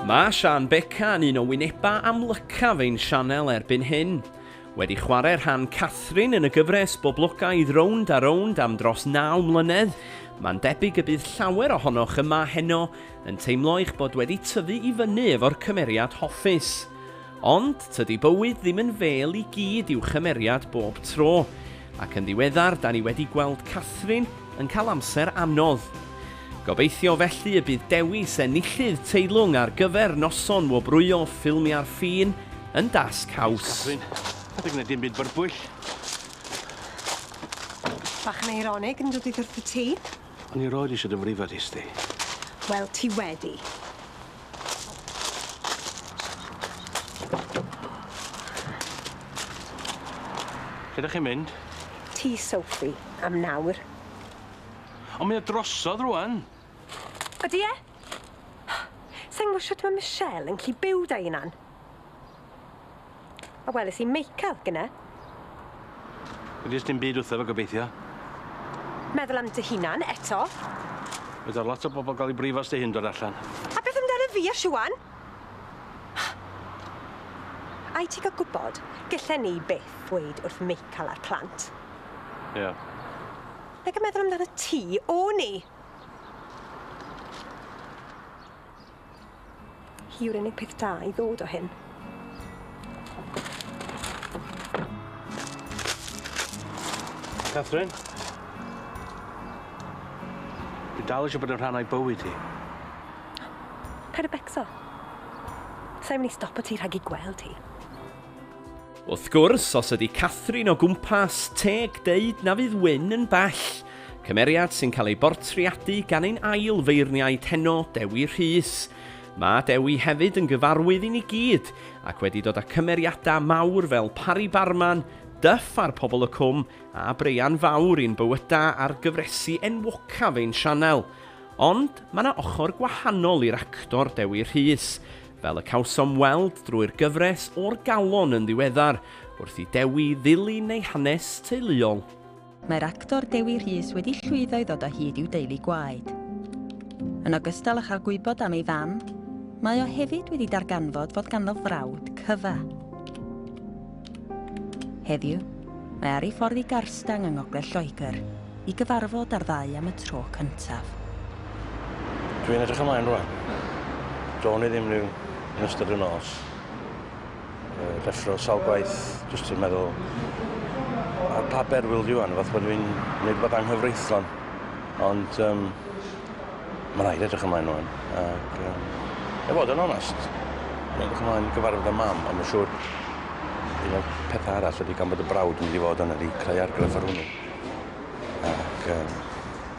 Mae Sian Beca yn un o wynebau amlycaf ein sianel erbyn hyn. Wedi chwarae rhan Catherine yn y gyfres boblogaidd Rownd a Rownd am dros 9 mlynedd, mae'n debyg y bydd llawer ohonoch yma heno Yn teimlo eich bod wedi tyfu i fyny efo'r cymeriad hoffus. Ond, tydi bywyd ddim yn fêl i gyd i'w chymeriad bob tro, ac yn ddiweddar 'da ni wedi gweld Catherine yn cael amser anodd. Gobeithio felly y bydd dewis enillydd teilwng ar gyfer noson wobrwyo ffilmiau'r ffin yn dasg haws. Catherine, paid â gwneud dim byd byrbwyll. Bach yn eironig, yn dydi, wrth y tŷ? O'n i rioed isio dy frifo di, Sti. Wel, ti wedi. Lle dych chi'n mynd? Tŷ Sophie, am nawr. Ond mae o drosodd rwan! Ydy e? Sa i'n gwybod shwt mae Michelle yn gallu byw 'da hunan. A weles i Meical, gyne. Wedi's dim byd wrtho fe, gobeithio? Meddwl am dy hunan, eto. Fedar lot o bobl gael eu brifo os dy hyn dod allan. A beth amdana fi a Siwan? Ai ti gael gwybod, gillen ni byth ddweud wrth Meical a'r plant. Ie. Yeah. Nag yn meddwl amdana ti, o'n i! Hi yw'r unig peth da i ddod o hyn. Catherine? Dwi dal eisiau bod yn rhan o'i bywyd hi. Paid y becso. Sa'i mynd i stopo ti rhag i gweld hi. Wrth gwrs, os ydy Catherine o gwmpas, teg deud na fydd Wyn yn bell. Cymeriad sy'n cael ei bortreadu gan ein ail feirniaid heno, Dewi Rhys. Mae Dewi hefyd yn gyfarwydd i ni gyd ac wedi dod â cymeriadau mawr fel Pari Barman, Duff a'r Pobol y Cwm a Breian Fawr i'n bywydau ar gyfresi enwocaf ein sianel. Ond mae 'na ochr gwahanol i'r actor Dewi Rhys, fel y cawsom weld drwy'r gyfres O'r Galon yn ddiweddar, wrth i Dewi ddilyn ei hanes teuluol. Mae'r actor Dewi Rhys wedi llwyddo i ddod o hyd i'w deulu gwaed. Yn ogystal â chael gwybod am ei fam, mae o hefyd wedi darganfod fod ganddo frawd cyfa. Heddiw, mae ar ei ffordd i Garstang yng Ngogledd Lloegr i gyfarfod â'r ddau am y tro cyntaf. Dwi'n edrych ymlaen rwan. Do'n i ddim rhyw yn ystod y nos. uh, deffro sawl gwaith, jyst ti'n meddwl, a pa ber wyl di wan, fath bod fi'n gwneud bod anghyfreithlon. Ond um, mae'n rhaid edrych ymlaen nhw'n. Ac, um, e fod yn onest, mae'n edrych ymlaen gyfarfod y mam, ond mae'n siŵr un o'r pethau arall ydy gan bod y brawd yn mynd i fod yna di creu argraff ar hwnnw. Ac um,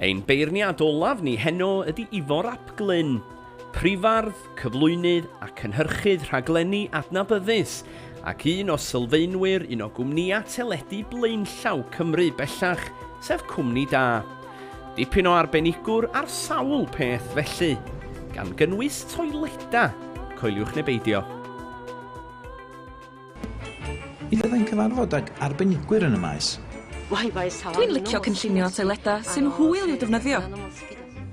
Ein beirniad olaf ni heno ydy Ifor ap Glyn, prifardd, cyflwynydd a cynhyrchydd rhaglenni adnabyddus, ac un o sylfaenwyr un o gwmnïau teledu blaenllaw Cymru bellach, sef Cwmni Da. Dipyn o arbenigwr ar sawl peth felly, gan gynnwys toileda, coeliwch neu beidio. Mi fyddai'n cyfarfod ag arbenigwyr yn y maes. Dwi'n licio cynllunio toileda sy'n hwyl i'w defnyddio.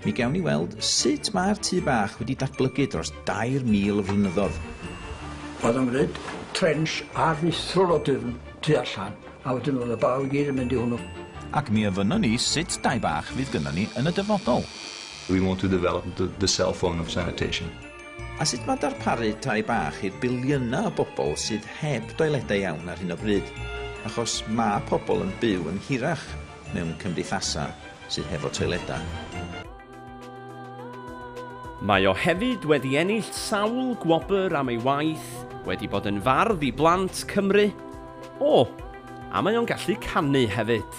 Mi gawn ni weld sut mae'r tŷ bach wedi datblygu dros 2,000 o flynyddoedd. Oedd o'n gwneud trench ar nithrol o dwfn tu allan. A wedyn o'dd y baw i gyd yn mynd i hwnnw. Ac mi ofynnon ni sut dai bach fydd gynnon ni yn y dyfodol. We want to develop the cell phone of sanitation. A sut mae darparu tai bach i'r biliynau o bobl sydd heb doiledau iawn ar hyn o bryd, achos mae pobl yn byw yn hirach mewn cymdeithasau sydd hefo toiledau. Mae o hefyd wedi ennill sawl gwobr am ei waith wedi bod yn fardd i blant Cymru. O! A mae o'n gallu canu hefyd.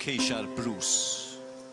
Ceisia'r Bruce.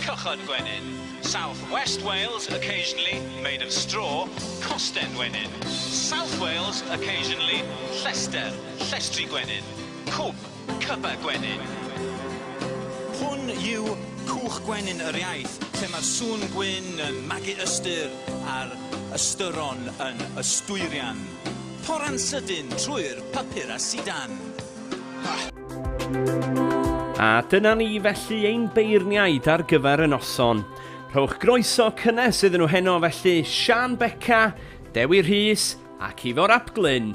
Cychod gwenyn, South West Wales, occasionally, made of straw, Costen wenyn, South Wales, occasionally, llester, llestri gwenyn, Cwb, cyba gwenyn. Hwn yw cwch gwenyn yr iaith, lle mae'r sŵn gwyn yn magu ystyr a'r ystyron yn ystwyrian. Torran sydyn trwy'r papur a sidan. A dyna ni felly ein beirniaid ar gyfer y noson. Rhowch groeso cynnes iddyn nhw heno felly Sian Beca, Dewi Rhys ac Ifor ap Glyn.